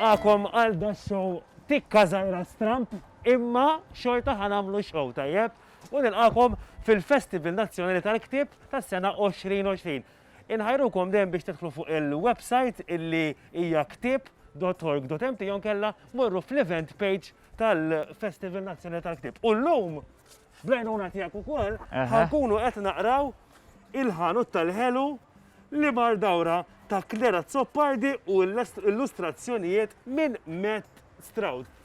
nilqakom għal da show tikka zaħira stramp imma xorta ħanamlu show tajjeb u nilqakom fil-Festival Nazzjonali tal-Ktib tas-sena 2020. Inħajrukom dejjem biex tidħlu fuq il-website illi hija ktieb.org.mt jew kella morru fl-event page tal-Festival Nazzjonali tal-Ktieb. U llum blajnuna tiegħek ukoll ħankunu qed naqraw il-ħanut tal-ħelu li mar dawra ta' Klera Zoppardi u illustrazzjonijiet minn Matt Stroud.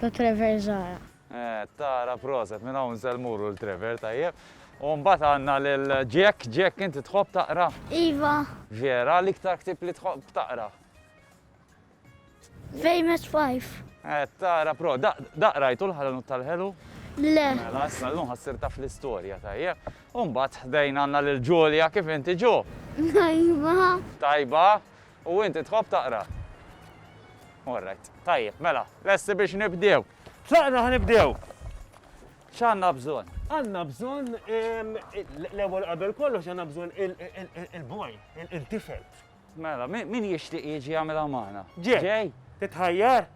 ta' Trever Zahra. Qed tara, proset, minn hawn se mmuru l Trever, tajjeb. U mbagħad għandna lil Jack, Jack inti tħobb taqra? Iva. Vera, l-iktar ktieb li tħobb taqra? Famous Five. Qed tara, pro, da, da qrajtu l-ħalanut tal-ħelu? Le. Mela, issa llum ħassir taf l-istorja, tajjeb. U mbagħad ħdejn għandna lil Julia, kif inti Ju? Tajba. Tajba? U inti tħobb taqra? Alright, tajjeb, mela, lesti biex nibdew? Tlaqna ħa nibdew! X'għandna bżonn? Għandna bżonn l-ewwel qabel kollox għandna bżonn il-boy, il-tifel. Mela, min jixtieq jiġi jagħmilha magħna? Ġej, titħajjar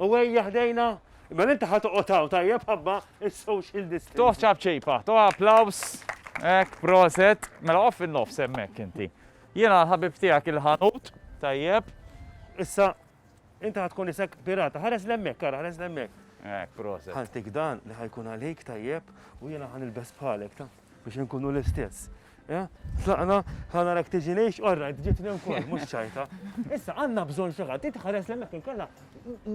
u ejja ħdejna Mela inti ħat oqtaw tajjeb ħabba il-social distance. Toħ ċabċipa, toħ applaus, ek, proset, mela off il-nofs emmek inti. Jiena l-ħabib tiegħek il-ħanut, tajjeb. Issa, inti ħad tkun isek pirata, ħares l-emmek, kara, ħares l-emmek. Ek, proset. Ħaltik dan li ħajkun għalik, tajjeb, u jiena ħan il-bes bħalek, ta' biex nkunu l-istess. Eh? Tlaqna, ħana rak tiġi neħx, orra, ġiet nem kol, mux ċajta. Issa, għanna bżon xaħat, ti tħares l-emmek il-kalla,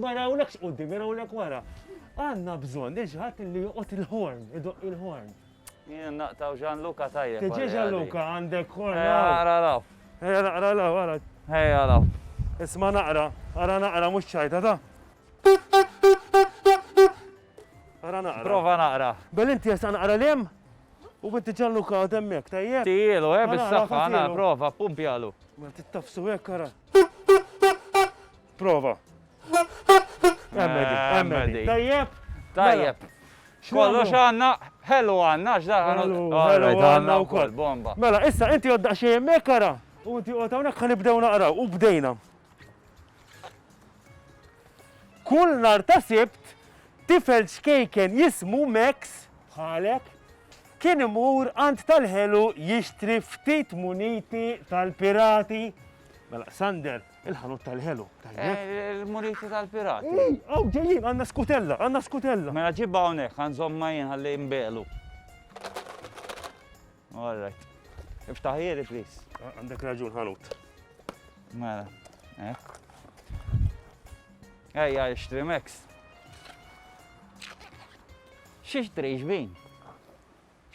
ma rawlekx u di, ma rawlek wara. Għanna bżon, iġħat li juqot il-horn, idoq il-horn. Jien naqtaw Gianluca tajjeb. Tiġi Gianluca għandek ħorn. Ejja ara law. Ejja naqra law ara. Ejja law. Isma' naqra, ara naqra mhux ċajta ta. Ara naqra. Prova naqra. Bel inti jesaq naqra li hemm? U inti Gianluca għad hemmhekk tajjeb? Tijielu eh bis-saħħa, ara prova ppumpjalu. Mela tittafsu hekk ara. Prova. Emmedi, tajjeb? Tajjeb. Kollox għanna, ħellu għanna, x'daħan għanna u koll, bomba. Mela, issa, inti għodda xie jemmek għara, u inti għodda għonek għan ibdew naqra, u bdejna. Kull nar ta' sibt, tifel xkejken jismu Max, bħalek, kien imur għand tal-ħelu jixtri ftit muniti tal-pirati. Mela, Sander, Il-ħanut tal-ħelu, tajjeb. Il-muniti tal-pirati. Ej, għaw ġejjin, għanna skutella, għanna skutella. Mela ġibba hawnhekk, għanżom ma jien ħalli jimbelu. All right. Iftaħiri, please. Għandek raġun ħanut. Mela, eh. Ej, għal xtrimex. Xiex trejx bin?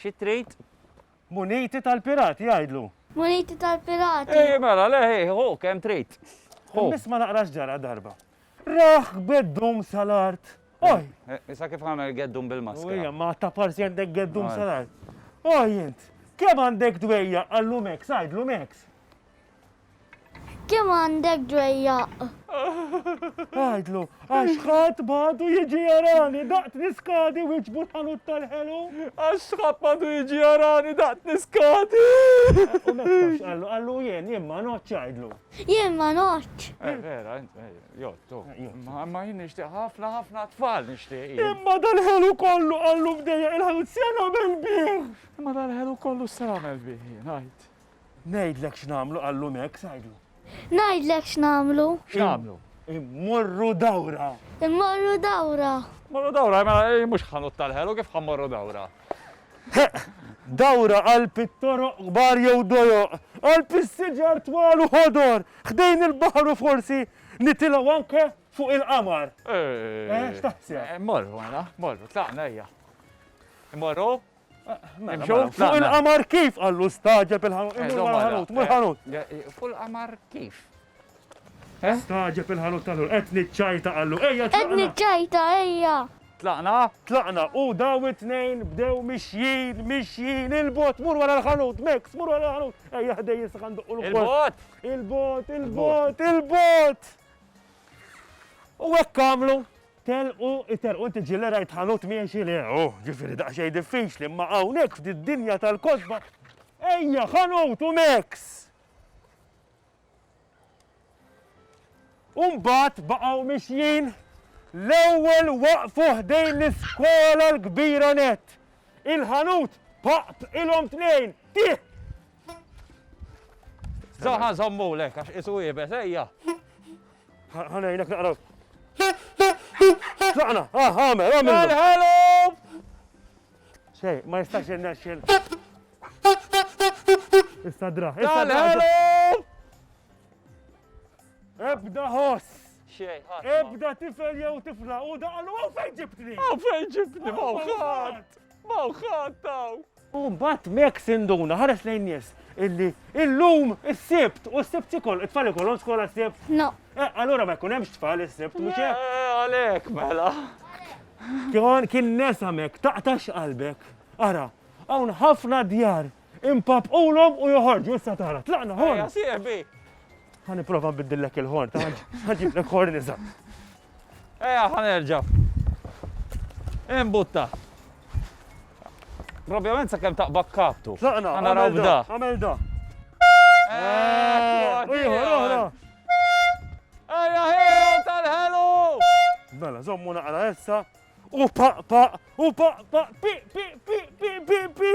Xie trejt? Muniti tal-pirati jgħidlu. Muniti tal-pirati. Ejji mela, le ħi, ħu kemm trid. Ħu. Nisma' naqra x'ġara darba. Raħ beddum sal-art. Oj! Eh, issa kif għamel geddum bil-maskra? Ejja, ma ta' parsi għandek geddum sal-art. Oj, int, kemm għandek dwejja għallu Max, għajdlu Max. Kemm għandek dwejjaq? Għidlu, għax ħadd m'għadu jiġi jarani daqt niskadi wieġbu l-ħanut tal-ħelu. Għax ħadd m'għadu jiġi jarani daqt niskadi. U mektax qallu, qallu jien, jien ma notx għidlu. Jien ma notx. Eh, vera, eh, jottu. Eh, ma jien nixtieq ħafna ħafna tfal nixtieq. Imma dal-ħelu kollu qallu bdejja il-ħanut sena mel-bih. Imma dal-ħelu kollu sena mel-bih, ngħid. Ngħidlek x'nagħmlu qallu Max, għidlu. Ngħidlek x'nagħmlu. X'nagħmlu? Immorru dawra. Immorru dawra. Morru dawra, mela eh, mhux ħanut tal-ħelu kif ħammorru dawra. Dawra għal pittoro kbar jew dojo, għal pissiġar twal u ħodor, ħdejn il-baħar u forsi nitilaw anke fuq il-qamar. Eh, eh x'taħseb? Morru, għana, morru, tlaqna ejja. Morru, Imxew fuq il-qamar kif? Qallu staġeb il-ħanut. Eh, imur mal-ħanut, mur ħanut. Eh, eh, fuq il-qamar kif? Staġeb il-ħanut tal-ħur. Qed niċċajta qallu, ejja tlaqna. Qed niċċajta, ejja. Tlaqna? Tlaqna u daw it-tnejn bdew mixjin, mixjin, il-bot, mur wara l-ħanut, Max, mur wara l-ħanut. Ejja ħdej jisaq għandu u l-bot. Il-bot, il-bot, il-bot. U hekk għamlu. Telqu, itelqu, inti ġieli rajt ħanut miexi? Le, oh, ġifieri daqsxejn diffiċli, imma hawnhekk f'did-dinja tal-kotba, ejja, ħanut u mexx! U mbagħad baqgħu mixjin, l-ewwel waqfu ħdejn l-iskola l-kbira nett. Il-ħanut paqp ilhom tnejn, tih! Zaħa żommulek għax isu iebes, ejja! Ħanajnek naqra. Tlaqna, ah, għamel, għamel. Hello! Xej, ma jistax jenna xil. Issa dra, issa dra. Hello! Ebda ħoss. Xej, Ebda tifel jew tifla u daqlu għaw fejn ġibtni. Għaw fejn ġibtni, mawħat. Mawħat taw. U mbagħad Max induna, ħares lejn nies, illi illum is-Sibt, u s-Sibt ikoll, it-tfal ikollhom skola s-Sibt? No. Eh, allura ma jkun hemmx tfal is-Sibt, mhux hekk? Eh, għalhekk mela. Kien kien nesamek, taqtax qalbek. Ara, hawn ħafna djar impapqulhom u joħorġu issa tara. Tlaqna ħorn. Ħa nipprova nbiddillek il-ħorn, ta' ħaġiblek ħorn iżgħar. Ejja ħa nerġa'. Imbutta. Probjament sakemm taqbad kaptu. Tlaqna, naraw bda. Għamel da. Ieħor oħra. Ejja ħelu tal-ħelu. Mela, żommu naqra issa. U paq paq, u paq paq, pi pi pi pi pi pi.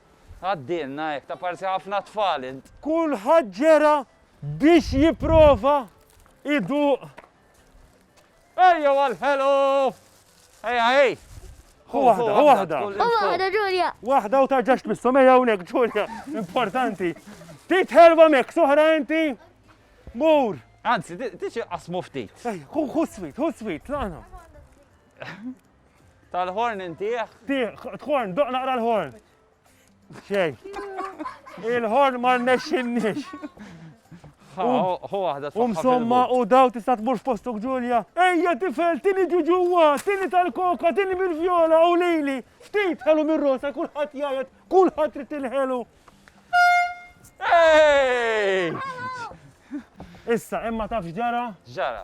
Għaddielna hekk, ta' parsi ħafna tfal int. Kulħadd ġera biex jipprova jduq. Ejjew għall-ħelu! Ejja, ej! Hu waħda, hu waħda. Hu waħda, Ġulja. Waħda u tarġax tmissu mejja hawnhekk, Ġulja. Importanti. Tit ħelwa mek, soħra inti. Mur. Anzi, tiġi qasmu ftit. Hu swit, hu swit, laqna. Tal-ħorn intih? Tħorn, doq naqra l-ħorn. Xej. Il-ħorn ma rnexxinniex. Hu waħda U msomma u daw tista' tmur f'postok Ġulja. Ejja tifel, tini ġuġuwa, tini tal-koka, tini bil-vjola u lili. Ftit ħelu mir-rosa kulħadd jgħid, kulħadd trid tilħelu. Issa, imma taf ġara? Ġara.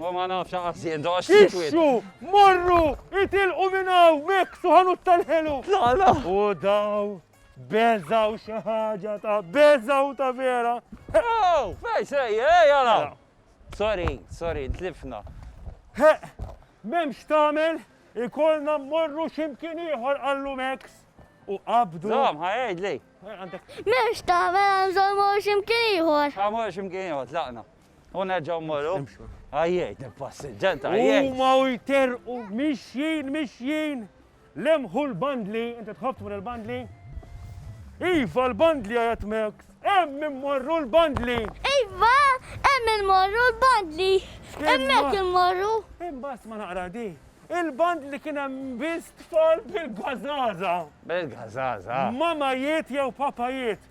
Huwa ma nafx aqas jidhorx sikwit. Ixxu! Morru! Itilqu minn hawn! Meksu ħanut tal-ħelu! La la! U daw beżgħu xi ħaġa ta' beżgħu ta' vera! Ew! Fejn sejjer? Ejja hawn! Mela. Sorry, sorry, tlifna. Heq! M'hemm x'tagħmel, ikollna mmorru xi mkien ieħor qallu Meks u qabdu. Żomm, ħa jgħidli. Għandek M'hemmx tagħmel għan żommu x'imkien ieħor. Ħa mmorru xi mkien ieħor, tlaqna. U nerġgħu mmorru. Għajjejt il-passiġġant, għajjejt. Huma u jterqu mixjin, mixjin. Lemħu l-bandli, inti tħobb tmur il-bandli? Iva l-bandli għajat Max. Hemm immorru l-bandli. Iva, hemm immorru l-bandli. Hemmhekk immorru. Imbagħad ma naqra di. Il-bandli kien hemm biss tfal bil-gażaża. Bil-gażaża. Mamajiet jew papajiet.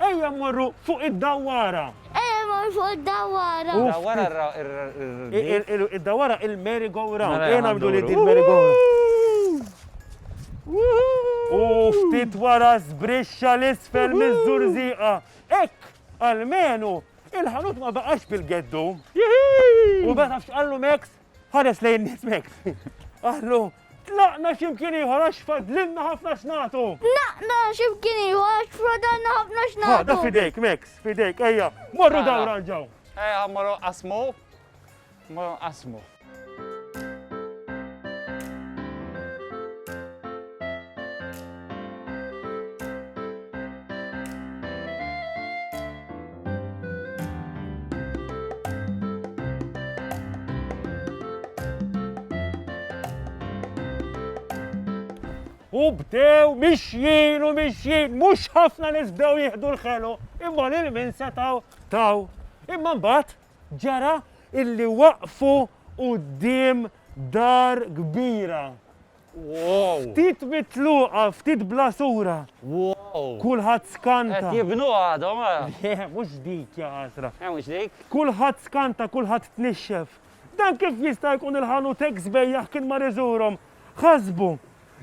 Ejja mmorru fuq id-dawwara. Ejja mmorru fuq id-dawwara. Dawwara r-rdief. Id-dawwara il-merry-go-round. Ejja nagħmlu li din merry-go-round. U ftit wara żbrixxa 'l isfel miż-żurżieqa. Hekk, almenu, il-ħanut ma baqax bil-geddum. U beda f'x'qallu Max? Ħares lejn nies mekk. Qallu, tlaqna x'imkien ieħor għax fadlilna ħafna x'nagħtu. Tlaqna x'imkien ieħor għax fadlilna ħafna x'nagħtu. Ħada fidejk Max, fidejk, ejja, morru ah. dawra ġew. Ejja, eh, morru qasmu. Morru qasmu. U bdew mixjin u mixjin, mhux ħafna nies bdew jieħdu l-ħelu, imma lil min setgħu taw. Imma mbagħad ġara illi waqfu quddiem dar kbira. Wow! Ftit mitluqa, ftit blasura. Wow! Kulħadd skanta. Qed jibnuha għadhom ara. Le, mhux dik, ja għasra. Eh, mhux dik? Kulħadd skanta, kulħadd tnixxef. Dan kif jista' jkun il-ħanutek sbejjaħ kien mar iżurhom? Ħasbu,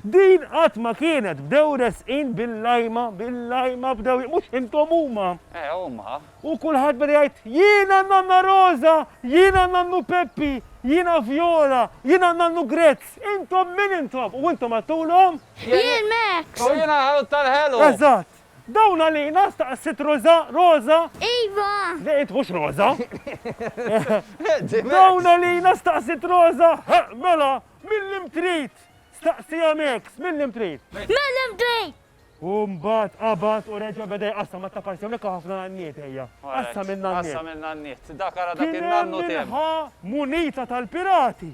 din qatt ma kienet bdew resqin bil-lajma, bil-lajma bdew mhux intom huma. Eh, huma. U kulħadd beda jgħid, Jiena Nanna Roża! Jiena Nannu Peppi! Jiena Vjola! Jiena Nannu Grezz! Intom min intom? U intom għedtulhom? Jien Max! U jiena Ħut tal-Ħelu! Eżatt! Dawn għalina? staqsiet Roża. Roża? Iva! Le int mhux Roża! Dawn għalina? staqsiet Roża. Ħa, mela, minn lim trid? staqsieha Max. Minn lim trid? Minn lim trid? U mbagħad qabad u reġa' beda jqassam għat-taparsi. Hawnhekk hawn ħafna nanniet ejja. Qassam in-nanniet. Qassam in-nanniet. Dak ara dak in-nannu tiegħu. Kien hemm min ħa munita tal-pirati.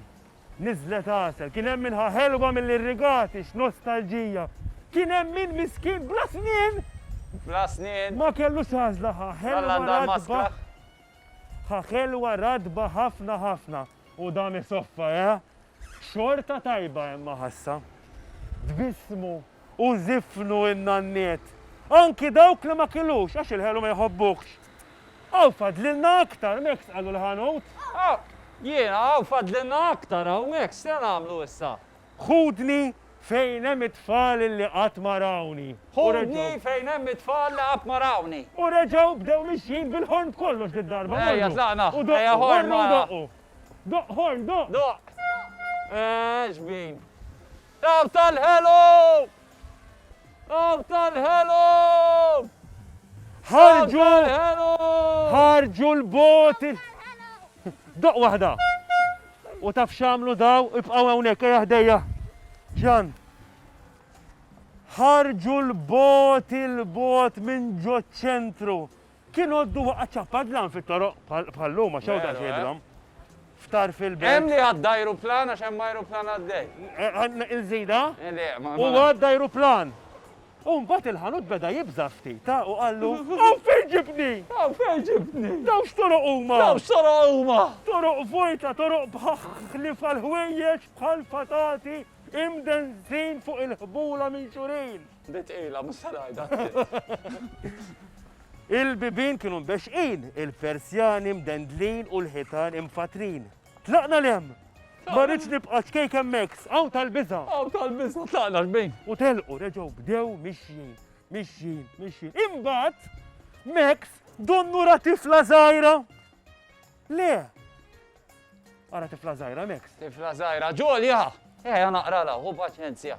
Niżlet għasel. Kien hemm min ħa ħelwa mill-irrigati. X'nostalġija. Kien hemm min miskin bla snien. Bla snien. Ma kellux għażla ħa ħelwa ratba. Ħa ħelwa ratba ħafna ħafna. U dan isoffa, eh? Xorta tajba hemm maħassa. Tbissmu u żifnu n-nanniet, anki dawk li ma kilux għax il-ħelu ma jħobbuhx. Hawn fadlilna aktar, mhekx qalu l-ħanut? Hawn! Jiena, hawn fadlilna aktar hawnhekk, x'se nagħmlu issa? Ħudni fejn hemm it-tfal li qatt ma rawni. Ħudni fejn hemm it-tfal li qatt ma rawni. U reġgħu bdew mixjin bil-ħorn b'kollox did-darba. Morru. Ejja tlaqna. U doqqu, morru u doqqu. Doqq ħorn, doqq. Doqq. Eex bin. Taw tal-ħelu! Għaw tal-ħelum! Ħarġu! Ħarġu l-boti! Doq waħda! U taf xamlu daw, ibqaw hawnhekk ejja ħdejja. Ġan. Ħarġu l-bot il-bot minn ġo ċentru. Kien għoddu waqgħet ċappadlan fit-toroq bħal-lum għax hawn daqs jidrom. Ftar fil-belt. Hemm li għadda ajruplan għax hemm ajruplan għaddej. Għandna il-żida? Le, ma. U għadda ajruplan. U mbagħad il-ħanut beda jibża' ftit, ta' u qallu, Hawn fejn ġibtni! Hawn fejn ġibtni! Dawn x'toroq huma! Dawn x'toroq huma! Toroq vojta, toroq bħaħħlif għall-ħwejjeġ bħal fatati imdenzin fuq il-ħbula minn xurin. Di tqila, mhux se ngħidha. Il-bibien kienu mbexxqin, il-persjani mdendlin u l-ħitan imfattrin. Tlaqna 'l hemm! Ma rridx nibqa' ċkejk hemmhekk, sqgħu tal-biża'! Sqgħu tal-biża', tlaqna xbin! U telqu, reġgħu bdew mixjin, mixjin, mixjin. Imbagħad Max donnu ra tifla żgħira. Le! Ara tifla żgħira Max. Tifla żgħira, ġolja! Eħja naqrala, hu paċenzja.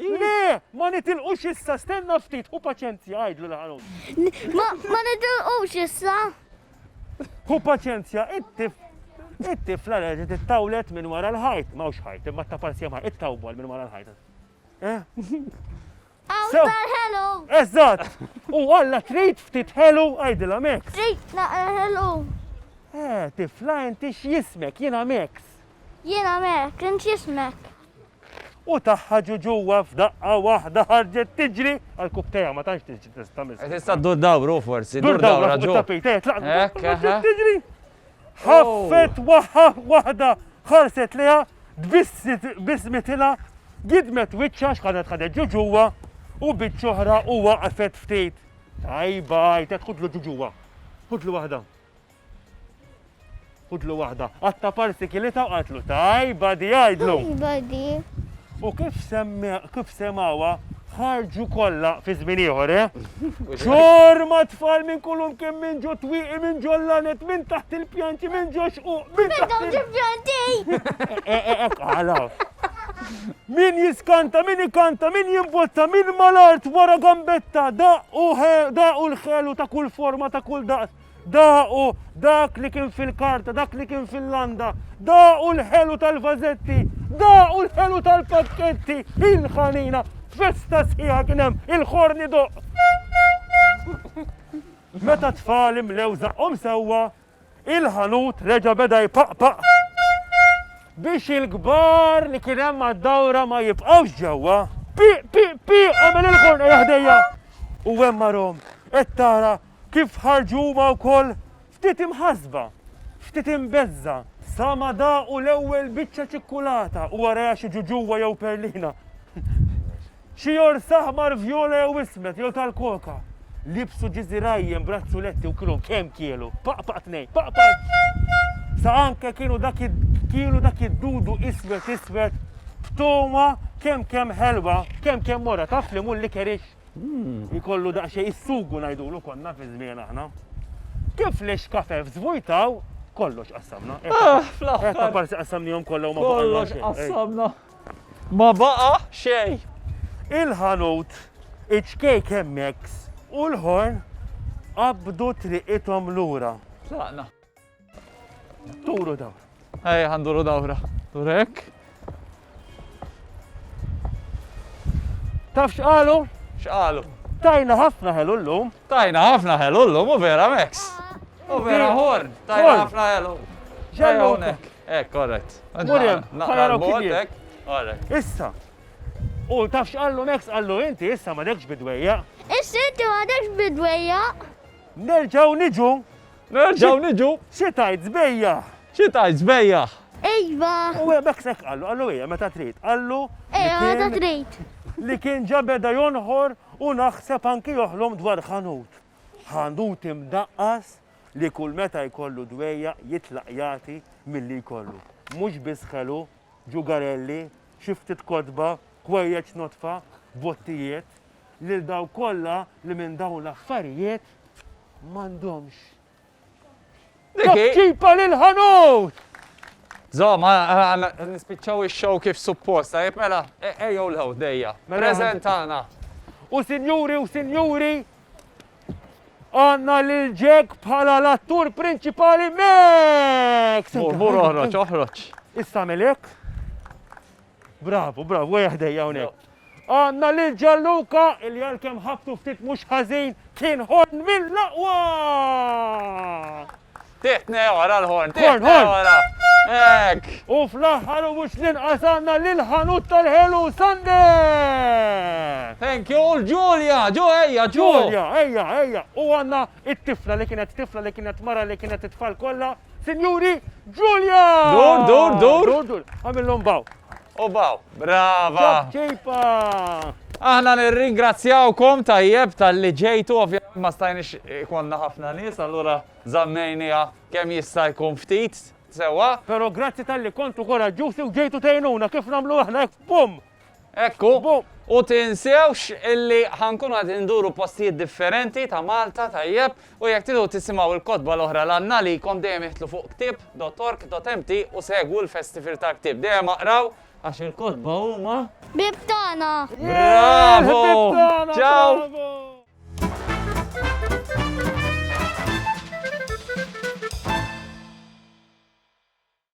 Le! Ma nitilqux issa, stenna ftit, ħu paċenzja, għidlu l-ħanut. Ma nitilqux issa! Hu paċenzja, it-tif it-tifla reġgħet ittawlet minn wara l-ħajt, m'hawnx ħajt, imma ta' parzja ma ittawwal minn wara l-ħajt. Għaw ħelu! Eżatt! U għalla trid ftit ħelu għajdilha Max. Trid naqra ħelu. Eh, tifla inti x'jismek, jiena Max. Jiena Max, int jismek. U tagħha ġu ġuwa f'daqqa waħda ħarġet tiġri għal kub tejha ma tantx tiġri tista' miss. Qed tista' ddur dawru forsi, ddur dawra ġo. Hekk ħa. Tiġri. Ħaffet waħħa waħda ħarset lejha tbissit bismitilha gidmet wiċċha x'ħadet ħadet ġu ġuwa u biċċ oħra u waqfet ftit. Tajba, jtet ħudlu ġu ġuwa. Ħudlu waħda. Fudlu waħda. Qatta parsi kilita u qaltlu tajba di għajdlu. Tajba di. U kif kif semawa ħarġu kollha fi żmien ieħor, eh? Xorma tfal minn kulum kien minn ġo twieqi minn ġo lanet minn taħt il-pjanti minn ġo xquq minn taħt il-pjanti. Għalaw. Min jiskanta, min ikanta, min jimbotta, min malart wara gambetta, da u l-ħelu ta' kull forma ta' kull daqs. Daqu dak li kien fil-karta, dak li kien fil-landa, daqu l-ħelu tal-vażetti, daqu l-ħelu tal-pakketti, il-ħanina, festa sħiħa kien hemm, il-ħorn idoqq. Meta t-tfal imlew żaqqhom sewwa, il-ħanut reġa' beda jpaqpaq biex il-kbar li kien hemm għad-dawra ma jibqgħux ġewwa. Pi, pi, pi, għamel il-ħorn ħdejja. U hemm marhom qed tara Kif ħarġu huma wkoll ftit imħassba, ftit imbeżżgħa, sa ma daqu l-ewwel biċċa ċikkulata u warajha xi ġuġuwa jew perlina, xi jors aħmar, vjola jew ismed jew tal-koka. Libsu ġiżirajjen b'razzuletti u kienu kemm kielu, paqpaq tnejn, paqpaq sa anke kienu dak kielu dak id-dudu iswed iswed b'togħma kemm kemm ħelwa, kemm kemm morra, taf li mhu l-likerix? Jkollu daqsxejn is-sugu ngħidulu konna fi żmien aħna. Kif li xkafef żvujtaw kollox qassamna. Ah, fl-aħħar. Etta parsi qassamnihom kollha ma Kollox qassamna. Ma baqa' xejn. Il-ħanut, iċ-ċkejk hemmhekk u l-ħorn qabdu triqithom lura. Tlaqna. Turu daw. Ej, għanduru dawra. Turek. Taf xqalu? Xqalu. Tajna ħafna ħelu l-lum. Tajna ħafna ħelu l-lum, u vera Max. U vera Horn. Tajna ħafna ħelu. Ġennunek. Eh, korret. Murjem, ħajra kibietek. Korret. Issa. U taf xqallu Max għallu inti, issa ma dekx bidwejja. Issa inti ma dekx bidwejja. Nerġaw niġu Nerġgħu niġu. Xi tgħid sbejjaħ? Xi tgħid sbejjaħ? Iva! U hekk sekk qallu, qallu ejja meta trid, qallu. Ejja meta trid. Li kien ġa beda jonħor u naħseb anki joħlom dwar ħanut. Ħanut imdaqqas li kull meta jkollu dwejja jitlaq jagħti milli jkollu. Mhux biss ħelu, ġugarelli, xi ftit kotba, kwejjeċ nodfa, bottijiet, lil dawk kollha li minn dawn l-affarijiet m'għandhomx. Ċipċipa lill-ħanut! Żomm, nispiċċaw ix-show kif suppost, tajjeb mela, e, ejjew l-ħew dejja. Mela, Preżentana. U sinjuri u sinjuri, għanna lil Jack bħala l-attur prinċipali Max! Mur, mur, oħroġ, oħroġ. Issa melek. Bravu, bravu, għajja ħdejja hawnhekk. Għandna lil Ġalluka il għal kemm ħabtu ftit mhux ħażin kien ħorn mill-aqwa! Tiħtne wara l-ħorn, tiħtne wara. Ek! U fl-aħħar u mhux l-inqas għandna lil ħanut tal-ħelu Sander! Thank you, l-Ġulja, ġu ejja, ġu! Ġulja, ejja, ejja. U għandna it-tifla li kienet tifla li kienet mara li kienet it-tfal kollha Sinjuri, Ġulja! Dur, dur, dur! Dur, dur, għamillhom baw. U baw, brava! Ċipa! Aħna nirringrazzjawkom tajjeb tal-li ġejtu, ovvjament ma stajniex ikonna ħafna nies, allura zammejnija kemm jista' jkun ftit sewa. Pero grazzi tal-li kontu koraġġużi u ġejtu tgħinuna kif nagħmlu aħna hekk bum! Hekk hu. U tinsewx illi ħa nkunu qegħdin induru postijiet differenti ta' Malta, tajjeb, u jekk tridu tisimgħu il-kotba l-oħra li għandna għalikom dejjem iħtlu fuq ktieb dot org dot mt u segwu l-Festival tal-Ktieb. Dejjem aqraw għax il-kotba huma. Ħbieb tagħna! Bravo! Ħbieb tagħna! Bravo!